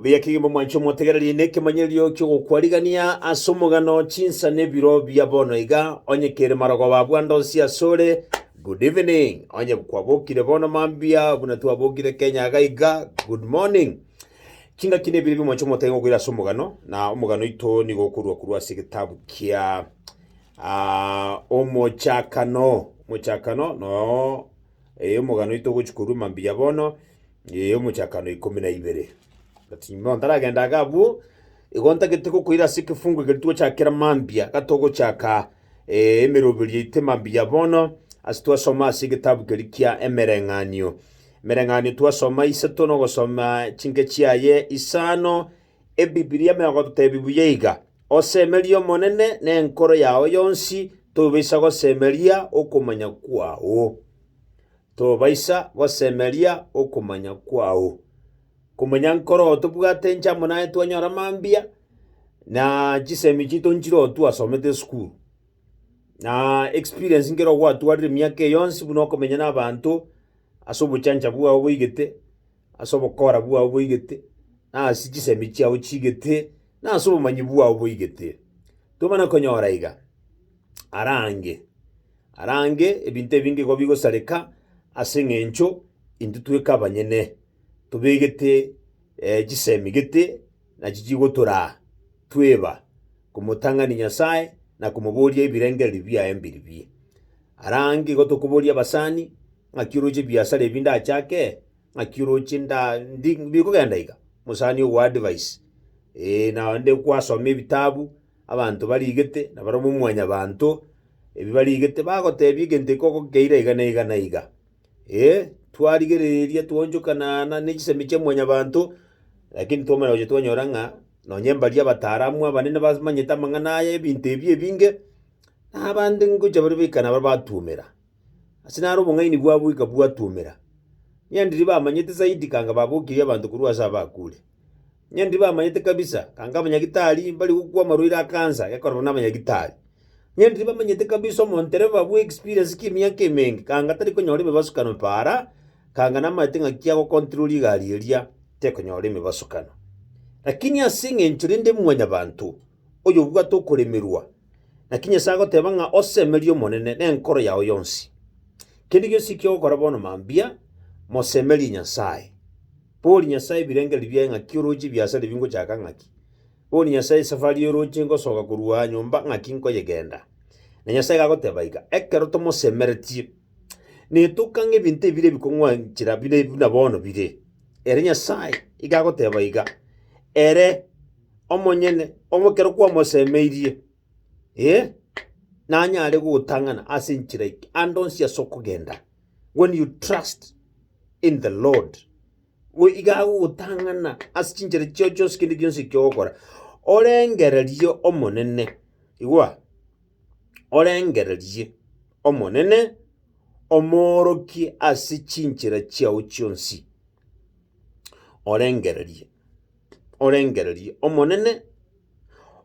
Buya kegima mwanche omotegererie nekemanyererio ki'ogokwarigania ase omogano chinsa nebiro bia bono iga onye kere marogoba abwo ande onsi ase ore good evening onye kwabokire bono mambia buna twabokire kenya iga iga good morning chingaki nebiro bia mwanche omotege gokoira ase omogano na omogano oito nigo okorwa korwa ase egetabu kia ah, omochakano omochakano no Ee, omogano oito ogochia korwa mambia bono, ee, omochakano ikomi na ibere. But bono ntaragenda iga abwo, igo ntagete gokoira ase ekefungu ekero twochakera mambia, gatogochaka ee, emeroberio yaito emambia bono, ase twasoma ase egetabu keria kia Emereng'anio. Emereng'anio twasoma isato na ogosoma chinke chiaye isano, Ebibilia megotebi buya iga, Osemerie Omonene nenkoro yao yonsi, tobaisa gosemeria okomanya kwao. Tobaisa gosemeria okomanya kwao. Komanya nkoroo tobwate enchamo naye twanyora mambia, na chisemi chiaito nchiroo twasomete esukuru. Na experience nkero gwatwarire emiaka eye yonsi buna okomenya na abanto ase obochancha bwao boigete. ase obokora bwao boigete, na ase chisemi chiao chiigete, na ase obomanyi bwao boigete. Tobana konyora iga, arange, arange ebinto ebinge igo bigosareka ase eng'encho intwe tweka abanyene tobegete chisemi gete nachi chigotoraa tweba komotang'ani Nyasae na komoboria ebirengererio biaye mbiribie. Arange igo tokoboria abasani. Ng'aki oroche ebiasara ebi ndachake? Ng'aki oroche nda ndi bikogenda iga? Mosani ogoa advice. Ee, naende kwasoma ebitabu, abanto barigete, na barabwo mwanyabanto, ebi barigete bagotebia egento ekoko nkeira iga na iga na iga. Ee, twarigereria twaonchokana na nechisemi chia mwanyabanto, lakini twamanya gocha twanyora ng'a nonye mbaria abataaramu abanene bamanyete amang'ana aya ebinto ebi ebinge, na abande ngocha bare baikare nabare batuomera. ase naro obong'aini bwabo ikabwatuomera. Onye ndiri bamanyete zaidi kanga babokirie abanto korwa ase abakure. Onye ndiri bamanyete kabisa kanga abanyagitari mbari gokwa amarwaire a cancer gekorerwa nabanyagitari. Onye ndiri bamanyete kabisa omontereba bwa experience ki emiaka emenge kanga tari konyora emebasukano paara, kanga namaete ng'aki ago control egari eria tekonyora emebasukano. Lakini ase eng'encho rende mwanyabanto. oyobwate okoremerwa, naki Nyasae agoteba ng'a osemerie Omonene nenkoro yao yonsi. Kende gionsi eki ogokora bono mambia, mosemerie Nyasae. Bori Nyasae ebirengererio biaye ng'aki orooche ebiasare bingochaka ng'aki? Bori Nyasae esafari y'orooche ngosoka korwa aa nyomba ng'aki nkoyegenda? Na Nyasae iga agoteba iga, Ekero tomosemeretie, netoka ng'a ebinto ebire ebikong'wanchera bire buna bono bire. Ere Nyasae iga agoteba iga, Ere. omonyene omo ekero kwamosemeirie, ee, nanyare gogotang'ana ase enchera eke, ande onsi ase okogenda. When you trust in the Lord, we iga agogotang'ana ase chinchera chiao chionsi kende gionsi ekio ogokora, orengererie Omonene, igwa, orengererie Omonene, omoorokie ase chinchera chiao chionsi, orengererie. orengererie Omonene,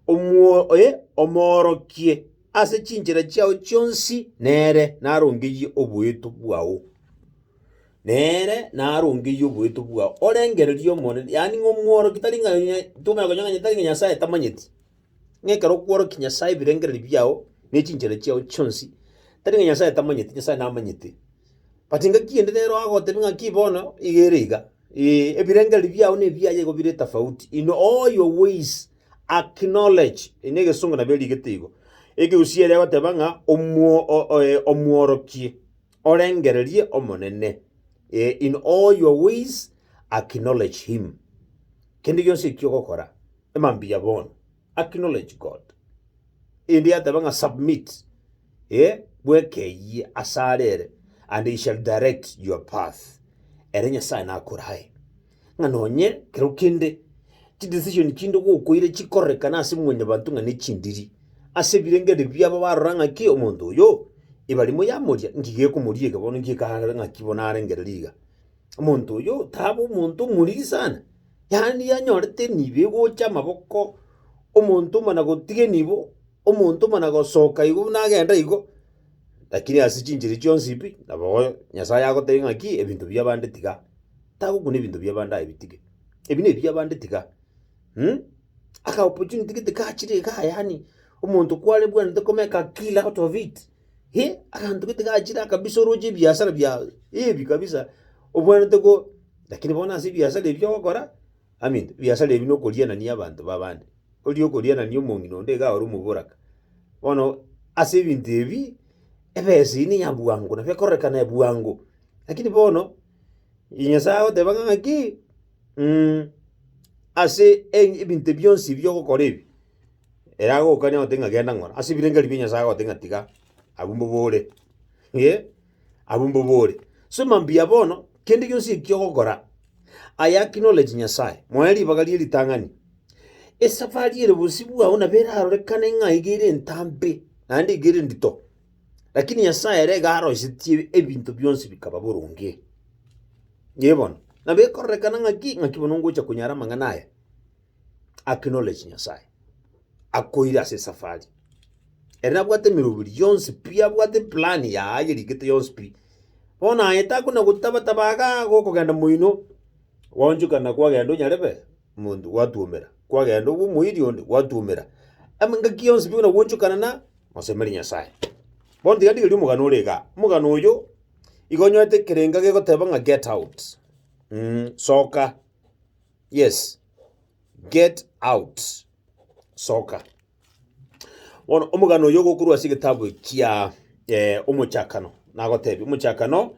omuoe, omoorokie ase chinchera chiao chionsi, nere narongeyie oboeto bwao. Nere narongeyie oboeto bwao, orengererie Omonene, yaani ng'a omworokie tari ng'a onye tomanya konya ng'a tari ng'a Nyasae tamanyeti, ng'a ekero okworokia Nyasae ebirengererio biao ne chinchera chiao chionsi, tari ng'a Nyasae tamanyeti, Nyasae namanyete. But ngaki ende nere agotebi ng'aki bono iga ere iga. Ee, ebirengererio biao nebiaye igo bire etafauti, inwe all your ways acknowledge, eye negesongo nabo erigete igo. Ekegusii ere egoteba ng'a omwo, o, o, eh, omworokie, orengererie Omonene. Eh, in all your ways acknowledge him. Kende gionsi ekio ogokora, emambia bono. acknowledge God, erinde yateba ng'a submit, eh, bweka eyie ase are ere, and he shall direct your path, ere Nyasae nakorae ng'a nonye kero kende chidecision chinde gokoire chikorekane ase mwanyabanto ng'a nechindiri, ase ebirengereri biabo barora ng'a ki omonto oyo, ebarimo yamoria, nki gekomoria eke bono, nki ekare ng'aki bono arengereria iga. omonto oyo tabe omonto omoriri sana, yaani yanyorete nibo egocha amaboko, omonto mana gotiga enibo, omonto mana gosoka igo buna agenda igo, lakini ase chinchera chionsi pi, nabo oyo Nyasaye agotebi ng'aki ebinto bia abande tiga, tagokuna ebinto bia abande aye bitige, ebi nebia abande tiga mh. Aka opportunity gete kachire igaa yaani omonto kwarebwanete komeka kila out of it. Hee, aganto gete gachire kabisa oroche ebiasara biago heavy kabisa, obwenerete ko lakini bono ase ebiasara ebi ogokora, aminto ebiasara ebi na okorianania abanto ba abande, oria okorianani omong'ina onde iga ore omoboraka. Bono ase ebinto ebi, ebesa eywo neya bwango nabo ekororekana bwango, lakini bono Nyasae agoteba ng'a ng'aki ase eng ebinto bionsi ebi ogokora ebi. Ere agokania gote ng'a genda ng'ora ase ebirengeri bia Nyasaye agote ng'a tiga, abwo mbobore, eh, abwo mbobore. So mambia bono, kende gionsi ekio ogokora, I acknowledge Nyasaye, moe ribaga rie ritang'ani, esafari ere bosio bwao nabo erarorekane ng'a iga ere entambe, naende iga ere endito, lakini Nyasaye ere iga aroisetie ebinto bionsi bikaba boronge. Nyie bono, nabo ekororekana ng'aki, ng'aki bono ngocha konyara amang'ana aya, acknowledge Nyasaye, akoire ase esafari ere nabwate emeroberi yonsi pi, abwate eplan yaye yerigete yonsi pi. Bono aye takwa na gotaba taba igaa gokogenda moino, gwaonchekana kwagenda onyarebe omonto gwatuomera, kwagenda obe omoiri onde gwatuomera. Ama engaki yonsi pi buna gwaonchekana na mosemeri Nyasaye. Bono tiga ndigerie omogano ore igaa, omogano oyo iga onyorete ekerengo egegoteba ng'a get out, soka. Yes, get out. Soka. Bono omogano oyo ogokorwa ase egetabu kia eh, Omochakano nagotebi Omochakano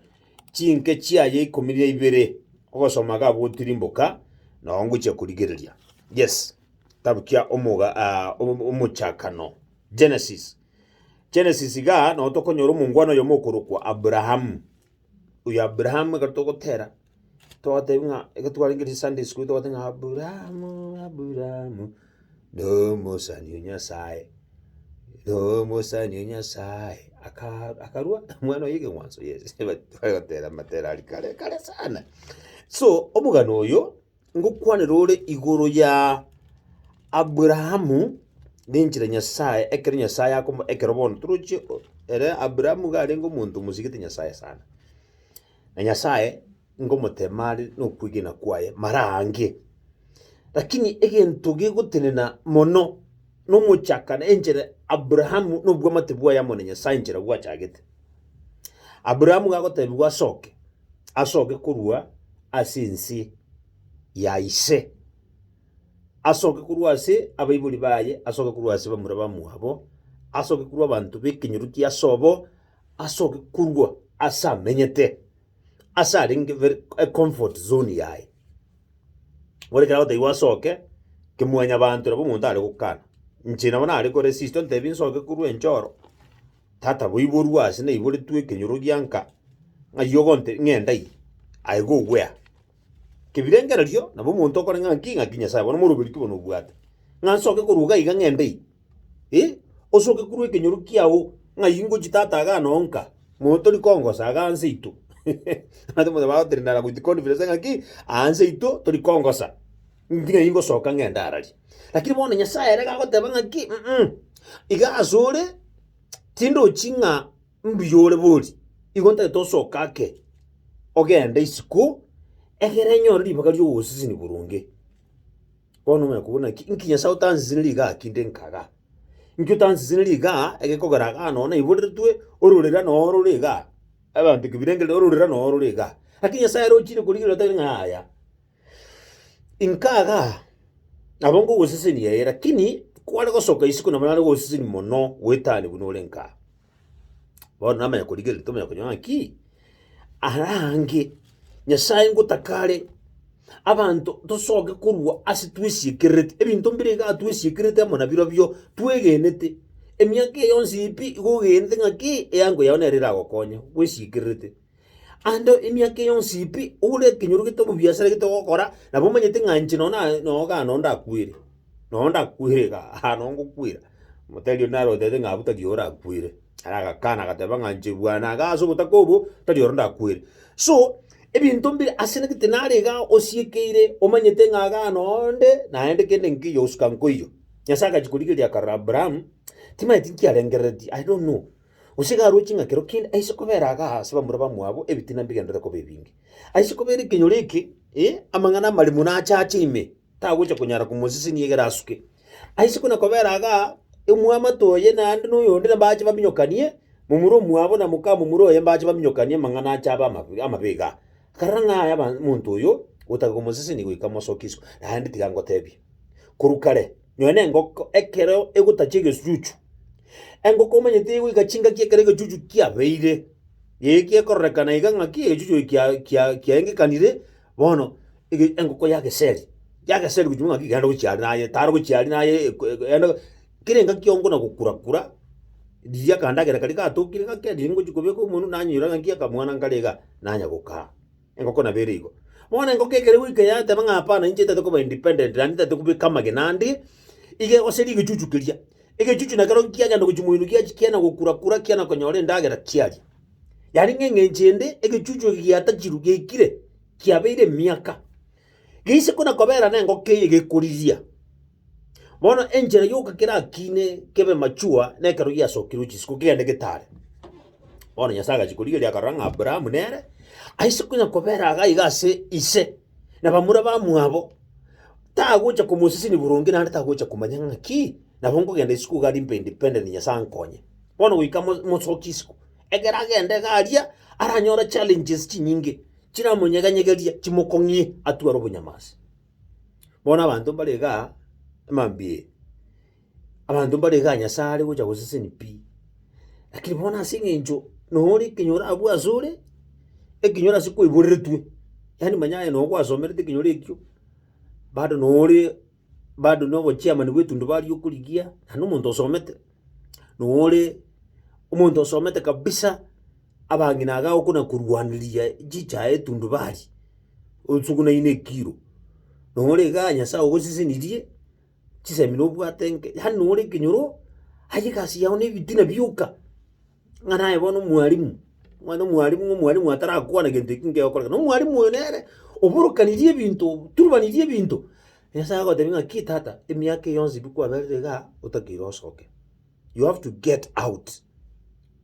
chinke chiaye ikomi na ibere ogosoma ga gotirimboka nao ngochia korigereria yes kitabu kia omoga ah, Omo- Omochakano Genesis Genesis ga nao tokonyora omongwana oyo mokorokwa Abrahamu oyo Abrahamu ekero togotera Togotebi ng'a eke twarengereiri Sunday school togotebi ng'a Aburaamu, Aburaamu, nomosani o Nyasaye, nomosani o Nyasaye, aka- akarua omwana oye ekeng'wanso yes but togotera amatera aria kare kare sana. So omogano oyo, ngokwanera ore igoro ya Aburaamu na enchera ya Nyasaye ekero Nyasaye akomo ekero bono toroche o ere Aburaamu iga arenge omonto omosigete Nyasaye sana. na Nyasae ngomotema are nokwegena kwaye maraange. Lakini egento gegotenena mono nomochaka na enchera Abrahamu nobwamate bwaye amo na Nyasae enchera gwachagete. Abrahamu gagotebigwa asoke, asoke korwa ase ense ya ise, asoke korwa ase abaibori baye, asoke korwa ase bamura bamwabo, asoke korwa abanto b'ekenyoro ki'ase obo, asoke korwa ase amenyete, ase arenge very ecomfort zone yaye. Bono ekero agotebiwa asoke, kemwanyabanto nabo omonto are gokana. Inche nabo nare koresist ontebie nsoke korwa ense oro, tata boiborwa ase naiboretwe ekenyoro gianka, ng'ai ogonte ng'enda eye, I go where? Kebirengererio, nabo omonto okoreng'a ng'aki, ng'aki Nyasae, bono moroberio ki bono obwate? Ng'a nsoke korwa iga iga ng'ende ime? Eh, osoke korwa ekenyoro kiao, ng'ai ngochie tata iga ano onka? Mono tori kongosa iga anse aito. Abanto muna bagotrendana with confidence ng'aki, aanse aito tori kongosa, ng'aki nai ngosoka ng'ende araria. Lakini bono Nyasae ere gagoteba ng'aki, mm iga asore, tindochi ng'a. Nduya ore bori, igo ntagete osoke ake ogende isiko, egere enyore ribaga ri'ogosisinia boronge. Bono omanye kobua naki, inki Nyasae otansisiniri igaa ki nde nkaga? Inki otansisiniri igaa egekogera igaa nonye naiboretwe ororera noo orore igaa? Abanto kebirengereri ororera noo orore igaa. Lakini Nyasae ere ochire korigereria oteba ng'a yaya, nkaga nabo ngogosisini ee, lakini kware gosoka isiko nabo nare kogosisini mono goetania buna ore nkaa. Bono namanya korigereria tomanya konye ng'a ki? Arange Nyasae ngotaka are abanto tosoke korwa ase twesiekererete ebinto mbire iga twesiekererete amo nabirobio twegenete. Emiaka eye yonsi pi iga ogenete ng'a ki? Eango yao nere eragokonye bwesiekererete. Ande emiaka eye yonsi pi, ore ekenyoro gete omobiasara gete ogokora, nabo omanyete ng'a inche nonye naye noo iga noo ndakwere, noo ndakwere iga aa noo ngokwera. Motari oria naro otebete ng'a abwo tari oyo orakwere, ara agakana agateba ng'a inche bwana iga ase obotaka obo, tari oro ndakwere. So, ebinto mbire ase nagete nare iga osiekeire omanyete ng'a iga noo nde, naende kende nkeiyo gosika nkoiyo. Nyasae agachia korigereria akarora Abraham, timanyeti nkiarengereretie, I don't know. Gose iga aroche ng'a kero kende aise kobera aaga aase bamura bamwabo ebitina mbigenderete koba ebinge. Aise kobera ekenyoro eke, ee, amang'ana amare mono ache ache ime, tagocha konyara komosesenia egere asuke. Aise kona kobera aaga omwamate oye naende na oyonde na mbache baminyokanie, momura omwabo na mokamomura oye mbache baminyokanie amang'ana ache abe amabe amabe iga. Akarora ng'a aya ba monto oyo, gotaka komosesenia goika mosokie isiko, naende tiga ngotebie. Korwa kare, nonya na engoko ekero egotachia egechuchu. Engoko omanyete egoika chingaki ekero egechuchu kiabeire, eye kiakororekana iga ng'aki egechuchu eke kia- kia- kiaengekanire, bono ege- engoko yageseri, yageseri gochia buna ng'aki iga yare gochiaria naye tare gochiaria naye eko- eko yaenda kera engaki yongo na gokura kura, riria akandagera karia gatokire ng'aki riria ngochi kobeka omonwe nanyora ng'aki akamwana nkare iga, nanya gokaa. Engoko nabo ere igo. Bono engoko ekero egoika yateba ng'a hapana inche ntagete koba independent naende ntagete kobeka amagena ande iga gose rigechuchu keria. Egechuchu nekero kiagenda gochia moino giachia kiana gokura kura kiana konyora endagera chiaria. Yaani ng'a eng'encho ende egechuchu eke giatachirwe giaikire kiabeire emiaka. Geise kona kobera nengoko eye gekoriria. Bono enchera yoka kerakiine kebe machua nekero giasokirwe chisiko kegende getare. Bono Nyasae agachia korigereria akarora ng'a Abrahamu nere aise konya kobera iga iga ase ise na bamura bamwabo, tagocha komoseseni boronge naende tagocha komanya ng'aki nabo nkogenda isiko iga alimpe independent Nyasae ankonye. Bono goika mo- mosoki isiko, ekero agenda iga aria, aranyore challenges chinyinge, chiramonyeg'enyegeria chimokong'ie atware obonyamasi. Bono abanto mbare igaa, amambia, abanto mbare igaa Nyasae are gocha goseseni pi. Lakini bono ase eng'encho nore ekenyoro abwo asore, ekenyoro ase kwaiboreretwe, yaani manya aye noo gwasomerete ekenyoro ekio, bado nore bado nobochairman bw'etundubario okorigia, naende omonto osomete. nore omonto osomete kabisa, abang'ina iga okona korwaneria chichae etundubari, osugunaine ekiro, nore iga nyasae ogosesenirie chisemi nobwate enke, yaani nore ekenyoro, aye egasi yao nebitina bioka. ng'a naye bono omwarimu, omanyete omwarimu ng'a omwarimu atarakwana gento ekio nkegokoreka. Na omwarimu oyo nere oborokanirie ebinto, oturubanirie ebinto, Nyasae agotebia ng'aki tata, emiaka eye yonsi bi kwaberire iga otakeire osoke, you have to get out,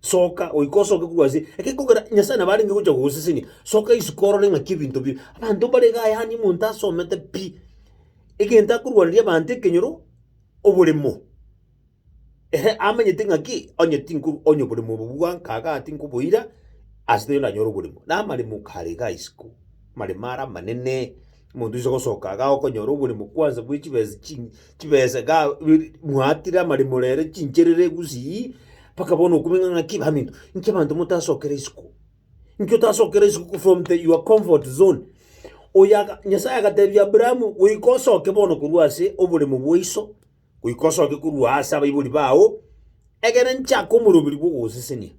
soka goika osoke korwa ase ekekogera Nyasae nabo arenge gocha kogosesenia, soka isiko orore ng'aki ebinto bire. Abanto mbare igaa yaani omonto asomete pi, egento akorwaneria abanto ekenyoro, oboremo. Ere amanyete ng'aki onye tinkobonya oborimo obo bwa nkaga tinkoboira, ase terio nanyore oborimo. Na amaremo kare igaa isiko, amaremo are amanene, omonto oise gosoka igaa okonyora oborimo kwanza bwe chibesa chi chibesa igaa mwatire amaremo rero chincherere gusii, mpaka bono okomenya ng'aki baminto, inki abanto motasokera isiko? Inki otasokera isiko from the your comfort zone? Oyaga Nyasaye agatebia Abrahamu, goika osoke bono korwa ase oboremo bwaiso. goika osoke korwa aase abaibori bao, ekero nchake omoroberi bw'ogosesenia.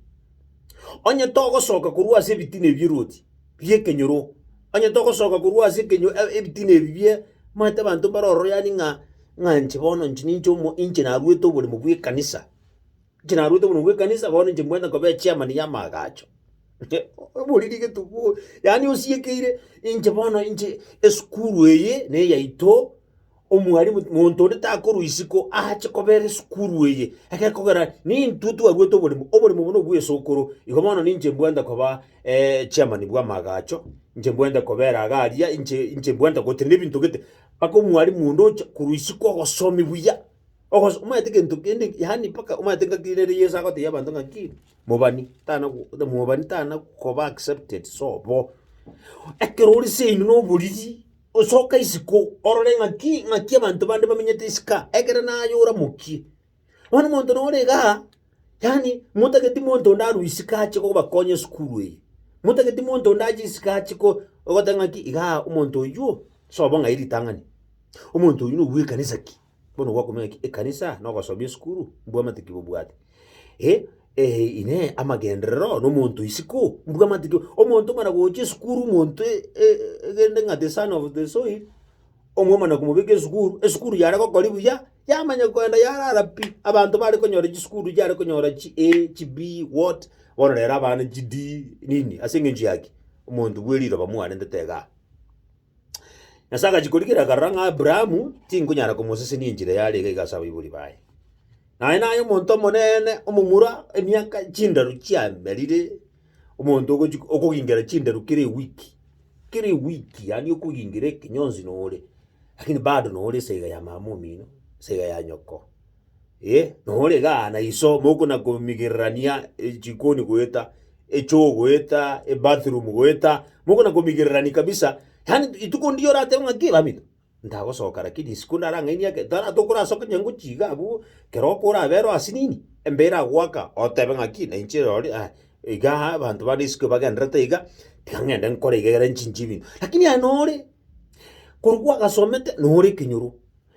Onye togosoka korwa ase ebitina ebi bieroti bi'ekenyoro, onye togosoka korwa ase ekenyo ebitina ebi bie manyete abanto mbare ororo yaani ng'a ng'a inche bono inche ninche omo inche narwete oboremo bw'ekanisa, inche narwete oboremo bw'ekanisa bono inche mbwenerete koba echairman y'amaagacho. Obori rigetubu yaani osiekeire inche bono inche esukuru eye neyaito. Omwalimu, monto onde takorwa isiko aache kobeera esukuru eye, ekekogera nintwe twarwete oborimo, oborimo obo nobw'esokoro. Igo bono ninche mbwente koba eh, chairman bw'amaagacho, inche mbwente kobeera iga aria, inche inche mbwente gotenena ebinto gete, mpaka omwalimu onde oche korwa isiko ogosomi buya, ogoso omanyete egento kende yaani mpaka omanyete ngaki nere Yeso agotebia abanto ng'aki, mobani tana go mobani tana koba accepted sobo. Ekero ore seino na oboriri. Osoke isiko, orore ng'aki ng'aki abanto bande bamenyete isiko aa, ekero naye oramokie. Bono omonto na ore igaa, yaani motageti monto onde arwe isiko ache kobakonya esukuru eye, motageti monto onde ache isiko ache ko ogoteba ng'aki igaa omonto oywo, sobo ng'ai ritang'ani, omonto oywo noyo bw'ekanisa ki. bono gwakumenya ki ekanisa na ogosomi esukuru mbwamate ki bobwate. Eh, eh, inee, amagenderero na omonto isiko mbwamate ki omonto omana gocha esukuru omonto e- e- egende ng'a the son of the soil omwomana komobeka esukuru, esukuru yare gokoria buya yamanya kogenda yarara pi, abanto bare konyora chisukuru chiare konyora chi A, chi B, what, bono rero abana chi D nini ase eng'encho ya ki? Omonto bwe riroba mwarentete igaa. Nyasae agachia korigereria akarora ng'a Aburaamu tinkonyara komosesenia enchera yarenge iga ase abaibori baye. Naye naye omonto omonene omomura emiaka chindaru chiamerire, omonto ogochi okogingera chindaru kera ewiki, kera ewiki yaani okogingera ekenyonsi nore, lakini bado nore ase iga ya mama omino, ase iga ya nyoko. Ee, nore igaa na iso mokona-komigererania echikoni goeta echoo goeta ebathroom goeta, mokona-komigererania kabisa, yaani rituko ndiyo oratebe ng'a ki bamino, ntagosoka lakini isiko ndarang'ainie ake tara tokorasoka onye ngochia iga abwo, kero oko orabe ero ase nini, embe eragoaka, otebe ng'aki na inche rorio aye igaa abanto bande isiko ebagenderete iga, tiga ng'ende nkore iga egere nchinche ebinto. Lakini aye nore. Korwa gwagasomete nore ekenyoro,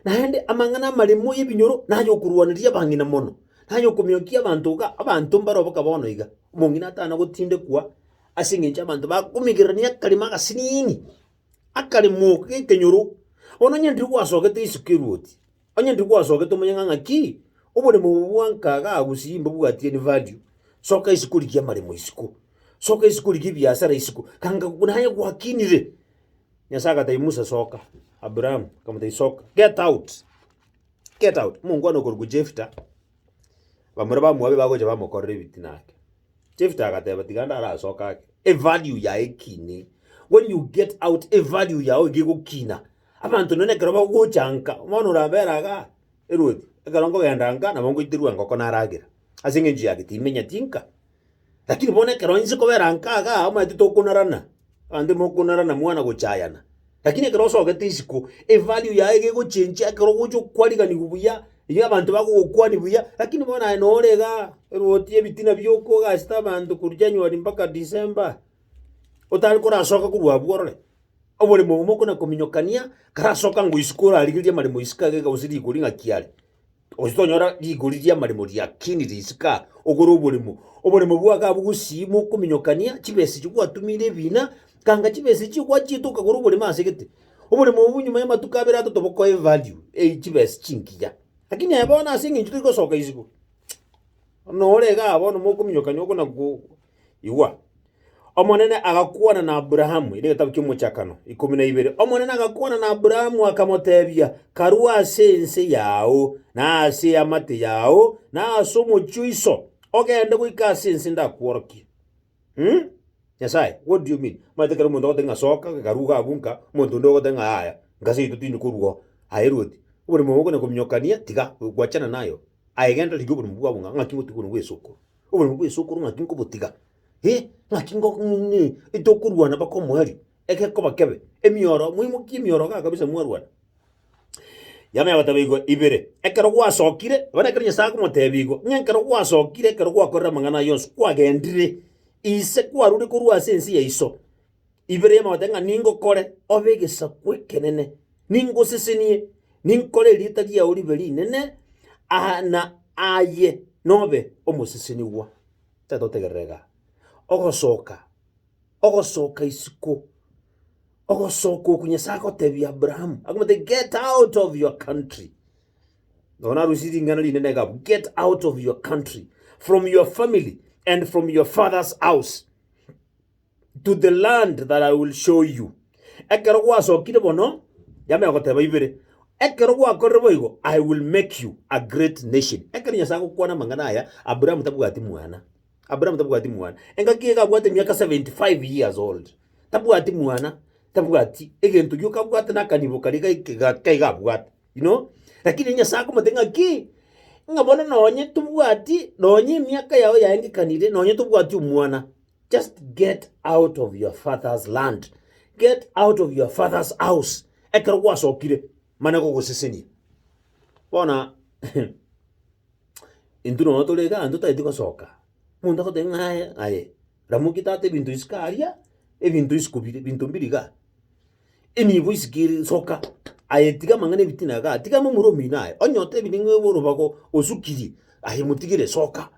naende amang'ana amaremo y'ebinyoro nay'okorwaneria abang'ina mono, nay'okomiokia abanto iga abanto mbare oboka bono iga, omong'ina atana gotindekwa ase eng'encho abanto bakomigererania akarimo agasiniini, akaremo g'ekenyoro. Bono onye ndiri gwasogete isiko eruoti. Onye ntigwasogete omonyang'a ng'a ki oboremo obo bwanka iga gose mbobwatie any value, soka isiko origie amaremo isiko, soka isiko origie ebiasara isiko, ganga naye gwakinire. Nyasae agatebia Musa, Soka, Abraham akamotebia, Soka, get out, get out. Omongwana okorokwa Jefita, bamura ba Moabi bagocha bamokorera ebitina ake. Jefita agateba, Tiga ndarasoke ake, evalue yaye ekine. When you get out, evalue yao iga egokina. Abanto nonye na ekero bagocha nka, bono orabera igaa erwoti, ekero nkogenda nka nabo ngoiterwa engoko naragera, ase eng'encho ya ki? Timenyeti nka. Lakini bono ekero inche kobera nka igaa omanyete tokonarana, abanto mokonarana mwana gochayana, lakini ekero osogete isiko, evalue yaye gegochenchia ekero ogocha okwaniganiwa buya, erio abanto bagogokwani buya, lakini bono aye nore igaa erwoti ebitina biokogachete abanto korwa january mpaka december. otari korasoka korwa abwo orore, oboremo obo mokona kominyokania, karasoka ngo isiko orarigereria amaremo isiko iga gose rigori ng'aki are, gose tonyora rigori riamaremo riakinire isiko aa, ogore oboremo. Oboremo bwago abwo gosii mokominyokania chibesa echi gwatumire ebina, kanga chibesa echio gwachiete okagora oboremo ase egete. Oboremo obwo nyuma y'amatuko abere atato bokoe evalue eye chibesa chingiya. Lakini aye bono ase eng'encho tori gosoka isiko, buna ore igaa bono mokominyokania okona go Igwa! Omonene agakwana na Aburaamu, erio egetabu ki'Omochakano, ikomi na ibere, Omonene agakwana na Aburaamu, akamoteebia, Karue ase ense yao, na ase eamate yao, na ase omochie o iso, ogende goika ase ense ndakworokie. Hmm? Nyasae, what do you mean? Omanyete ekero omonto agotebi ng'a soka, karue iga abwo nka, omonto onde ogotebi ng'a yaya, nka ase yaito tindi korua oo. Aye Loti, oborimo obo okonyara kominyokania, tiga, gwachana naye oo. Aye genda rigia oborimo bwabo ng'a ng'aki gotiga oboronge bw'esukuru. Oboremu bw'ense okorwa ng'aki nkobotiga, eh, ng'aki ngo ng'ing'e etokorwana mpaka omoerio, egekoba kebe, emioro, moimokie emioro igaa kabisa mwarwana. Yamanya goteba igoro ibere, ekero gwasokire, bono ekero Nyasae akomotebia igo, ng'a ekero gwasokire ekero gwakorire amang'ana ayio yonsi, kwagendire ise kwarure korwa ase ense yaiso. ibere y'amagote ng'a ningokore obe egesaku ekenene, ningosesenie, ninkore erieta riao ribe rinene, aa na aye nobe omosesenigwa. Tata otegerere igaa. Ogosoka, ogosoka isiko, ogosoka oku Nyasaye agotebia Abraham, akamotebia get out of your country. Nabo narusie ring'ana rinene iga abwo, get out of your country, from your family, and from your father's house. to the land that I will show you. Ekero gwasokire bono, yame agoteba ibere, ekero gwakorire boigo, I will make you a great nation. Ekero Nyasae agokwana amang'ana aya, Abraham tabwati mwana. Abraham tabwati mwana. Engaki iga abwate miaka 75 years old. Tabwati mwana, tabwati egento gioka abwate na akanibo karia ga ekega kaiga abwate, you know. Lakini Nyasae akomotebia ng'a ki, ng'a bono nonye tobwati, nonye emiaka yao yaengekanire, nonye tobwati omwana. Just get out of your father's land, get out of your father's house, ekero gwasokire mane gogosesenia. Bono intwe nonya tore iga abanto tari tigosoka, omonto agoteba ng'a aye aye ramoki tata ebinto isiko aria, ebinto isiko bire, ebinto mbire igaa, enibo isiko ere soka, aye tiga amang'ana ebitina igaa, tiga momura omino aye, onye otebire ng'a orobago osukirie, aye motigere soka.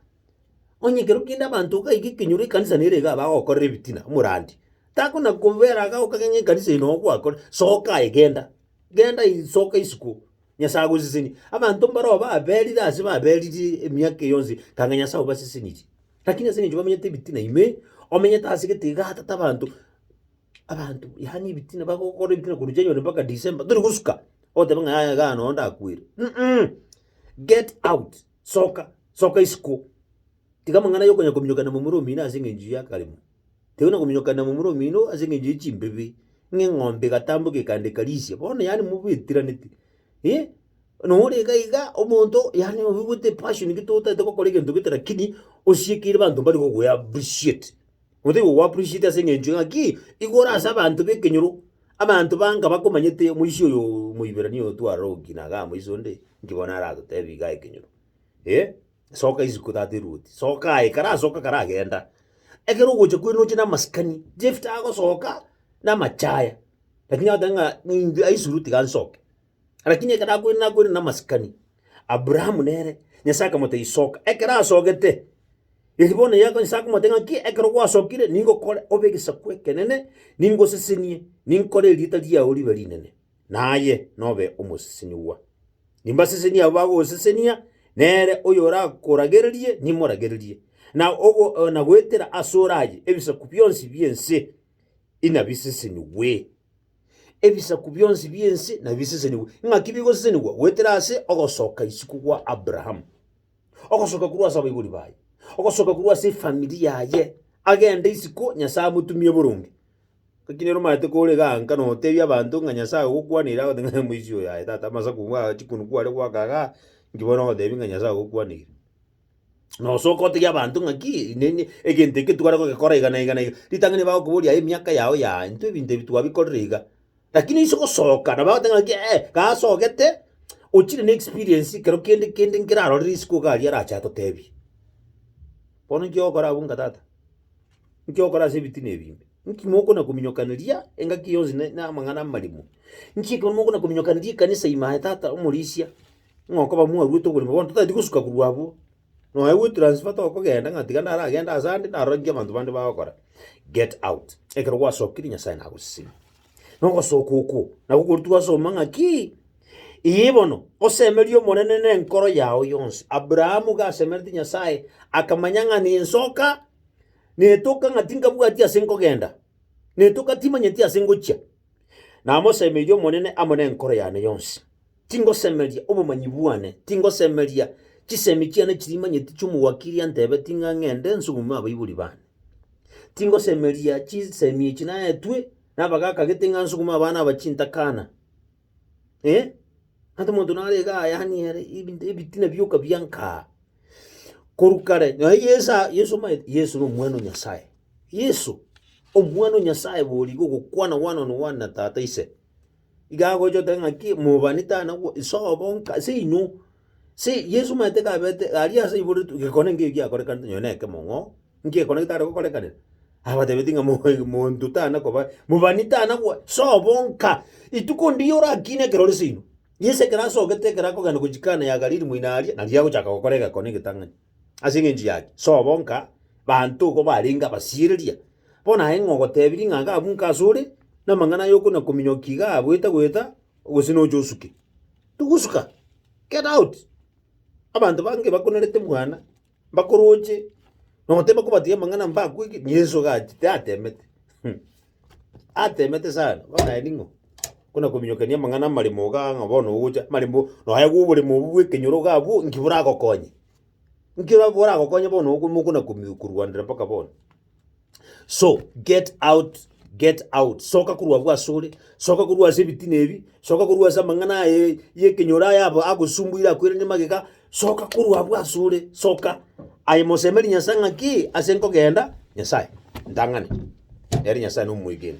Onye ekero kende abanto iga iga ekenyoro ekanisa nere iga bagokorera ebitina omorandi, takona kobera iga okabe ng'a ekanisa eye nogo gwakore, soka aye genda, genda ii soka isiko, Nyasae agoseseni. Abanto mbaroo baberire ase baberiri emiaka eye yonsi kanga Nyasae obasesenirie, lakini ase eng'encho bamenyete ebitina ime, omenyete ase egete iga tata abanto, abanto yaani ebitina bagokora ebitina korwa January mpaka December tori gosuka, ogoteba ng'a yaya igaa nonya ndakwere, mmmh get out. soka, soka isiko. Tiga amang'ana y'okonya kominyokana momura omino ase eng'encho y'akaremo. Tari na kominyokana momura omino ase eng'encho ye chimbebi, ng'a eng'ombe egatamboka ekande ekarisia, bono yaani mobetiraneti. Eh, nore iga iga omonto yaani oigwete epassion gete otaete gokora egento gete lakini osiekeire banto mbari gokoe appreciate. Gose igo gwaprishite ase engencho eng'aki igoro ase abanto b'ekenyoro, abanto banga bakomanyete omoisia oyo Omoiberania oyo twarora gokiina iga amoisa onde, inki bono aratotebi iga ekenyoro? Eh, soka isiko tata eruoti, soka aye, karasoka karagenda. Ekero ogocha kwene oche na amasikani, Jephta agosoka na amachaya, lakini agoteba ng'a ng'ai aisuru tiga nsoke. Rakini ekero akwenerete akwenene namasikani, Aburaamu nere Nyasae akamotebia, Soka. Ekero asogete, riria bono Yahweh Nyasae akomotebia ng'aki, ekero gwasokire, ningokore obe egesaku ekenene, ningosesenie, ninkore erieta riao ribe rinene, naye nobe omosesenigwa. Nimbasesenie abwo bagosesenia, nere oyorakoragererie, nimoragererie, na ogo na goetera asore aye, ebisaku bionsi bi'ense inabisesenigwe. Ebisaku bionsi bi'ense nabisesenigwe. Ng'aki bigosesenigwa goetera ase ogosoka isiko gwa Abraham, ogosoka korwa ase abaibori baye, ogosoka korwa ase efamiri yaye, agende isiko Nyasae amotumie boronge. Ng'aki nere omaete kore iga anka notebia abanto ng'a Nyasae agokwaneirie agoteba ng'a omoisia oyo aye tata amasaku ng'a chikoni kware goaka igaa, inki bono ogotebia ng'a Nyasae agokwaneirie? nosoka otebia abanto ng'aki nini egento eke tware gogekora iga na iga na iga, ritang'ani bagokoboria aye emiaka yao yaaa intwe ebinto ebi twabikorire iga. Rakini inse gosoka nabo bagoteba ng'aki ee gasogete ochire na experience ekero kende kende nkerarore risiku iga aria arache atotebie. Bono inki ogokora abwo nka tata? Inki ogokora ase ebitina ebi ime? Inki mokona kominyokaneria engaki yonsi ne na amang'ana amaremwa? Inki ekero mokona kominyokaneria ekanisa ime aye tata omorisia. Ng'a okoba mwaruete okorema bono totaeti gosuka korwa abwo, nonya gwetransfer togokenda ng'a tiga naragende ase ande narorie abanto bande bagokora, get out. Ekero gwasokire Nyasae nagoseseni. Na ogosoka okwo nabo okwo twasoma ng'a ki, iyii bono, osemerie Omonene na enkoro yao yonsi. Abrahamu iga asemereti Nyasae, akamanya ng'a ninsoka, netoka ng'a tinkabwati ase nkogenda, netoka timanyeti ase ngochia. Namosemeirie Omonene amo nenkoro yane yonsi. Tingosemeria obomanyi bwane, tingosemeria chisemi chiane chirimanyeti chi'omowakiri antebeti ng'a ng'ende nsugume abaibori bane. Tingosemeria chisemi echi naetwe nabagakagete ng'a nsugume abana aba chintakana, eh, Ante omonto nare iga ayanie ere ebinto ebitina bioka biankaa. Korwa kare nonya Yeso aa Yeso omanyete Yeso na omwana o Nyasaye, Yeso omwana o Nyasaye borigo ogokwana one on one na tata ise. Iga agocha oteba ng'aki mobani tari nagwo sobo nka seinwe se Yeso omanyete kaberete aria ase igoro tu gekone ngeyo giakorekanete nonya na ekemo ng'o Ngekona getare gokorekanera, abatebetie ng'a moe monto tana koba mobani tana gwa sobo nka. Rituko ndiya orakine ekero ore seino. Yeso ekero asogete ekero akogenda gochia Kana ya Galili moino aria, nario agochaka gokora egekone egetang'ani. Ase eng'encho yaki, sobo nka, banto igo barenge abasiereria. Bono aye ng'a ogotebirie ng'a iga abwo nka asore, na amang'ana aye okona kominyoka iga agoeta goeta, gose noche osuke. Togosuka, get out! Abanto bange bakonerete mwana, Mbakoroche, noteba kobatiga amang'ana mbakwege, Yeso iga achete atemete. Hum. Atemete sana, bono aye ning'o? Buna kominyokania amang'ana amaremo iga ng'a bono ogocha amaremo nonya bwa oboremo obwo bwa ekenyoro iga abwo, inki boragokonye? Inki boragokonye bono ogo mokona komi korwandera mpaka bono? So, get out, get out. Soka korwa abwo asore, soka korwa ase ebitina ebi, soka korwa ase amang'ana aye y'ekenyoro aya abo agosumbuire akwerende magega, soka korwa abwo asore, soka. Aye mosemerie Nyasae ng'aki ase nkogenda, Nyasae, ntang'ani. Ere Nyasae nomoegeni.